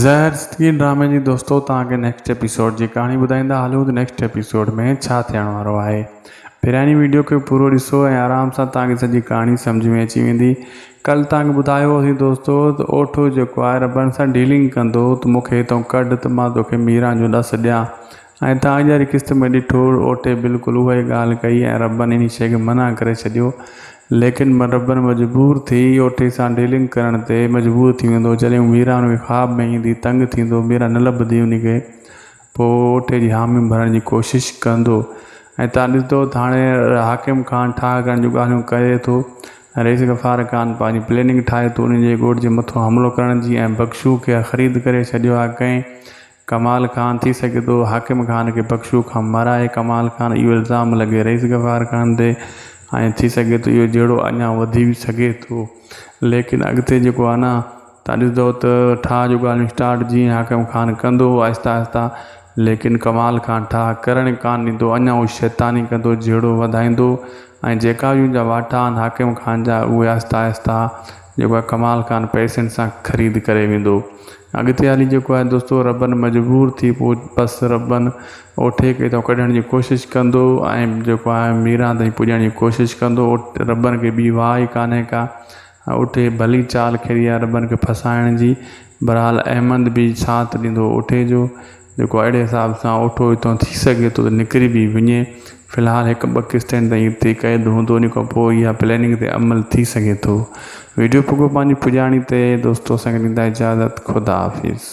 زهر سٽڪي ڊرامي جي دوستو توهان کي نيڪسٽ ايپيسوڊ جي ڪهاڻي ٻڌائيندا هلون ته نيڪسٽ ايپيسوڊ ۾ ڇا ٿيڻ وارو آهي پهريائني ويڊيو کي پورو ڏسو ۽ آرام سان توهان کي سڄي ڪهاڻي سمجهه ۾ اچي ويندي ڪل توهان کي ٻڌايو هوسين دوستو ته اوٺو جيڪو آهي ربڙن سان ڊيلنگ ڪندو ته مون کي هتئون ڪڍ ته مان توکي ميران جو ڏس ڏيان ۽ تان اڳياري قسط ۾ ڏٺو اوٽي بلڪل اها ئي ڳالهه ڪئي ۽ ربن انهي شيء کي منع ڪري ڇڏيو. ليڪن ربن مجبور ٿي اوٽي سان ڊيلنگ ڪرڻ تي مجبور ٿي ويندو. جڏهن هو ميرا ان کي خواب ۾ ايندي تنگ ٿيندو ميرا نه لڀندي انهي کي پوء هو اوٽي جي حامي ڀرڻ جي ڪوشش ڪندو ۽ تان ڏسندو ته هاڻي حاڪم خان ٺاهه ڪرڻ جون ڳالهيون ڪري ٿو ۽ رئيس غفار خان پنهنجي پليننگ ٺاهي ٿو انهي جي ڳوٺ جي مٿو حملو ڪرڻ جي ۽ بخشو کي خريد ڪري ڇڏيو آهي ڪنهن ڪمال خان ٿي سگهي ٿو حاڪم خان کي بخشو کان مارائي ڪمال خان اهو الزام لڳي رئيس غفار خان تي ۽ ٿي سگهي ٿو اهو جهيڙو اڃا وڌي به سگهي ٿو ليڪن اڳتي جيڪو آهي نه تان ڏسندو ته ٺاهه جو ڳالهيون اسٽارٽ جيئن حاڪم خان ڪندو آهستي آهستي ليڪن ڪمال خان ٺاهه ڪرڻ ڪانه ڏيندو اڃا اهو شيطاني ڪندو جهيڙو وڌائيندو ۽ جيڪا به ان جا واٽا آهن حاڪم خان جا اهي آهستي آهستي جيڪو آهي ڪمال خان پئسن سان خريد ڪري ويندو. اڳتي هلي جيڪو آهي دوستو ربن مجبور ٿي پوء بس ربن اوٺي کي اتان ڪڍڻ جي ڪوشش ڪندو ۽ جيڪو آهي ميران تائين پڄڻ جي ڪوشش ڪندو ربن کي ٻي واهه ئي ڪانهي ڪا اوٺي ڀلي چال کيڏي آهي ربن کي ڦاسائڻ جي بهرحال احمد به ساٿ ڏيندو اوٺي جو جيڪو اهڙي حساب سان اوٺو هتان ٿي سگهي ٿو ته نڪري به وڃي في الحال هڪ ٻه قسطين تائين هتي قيد هوندو ان کان پوء اها پليننگ تي عمل ٿي سگهي ٿو ويڊيو پڳو پنهنجي پڄاڻي تي دوستو اسان کي ڏيندا اجازت خدا حافظ.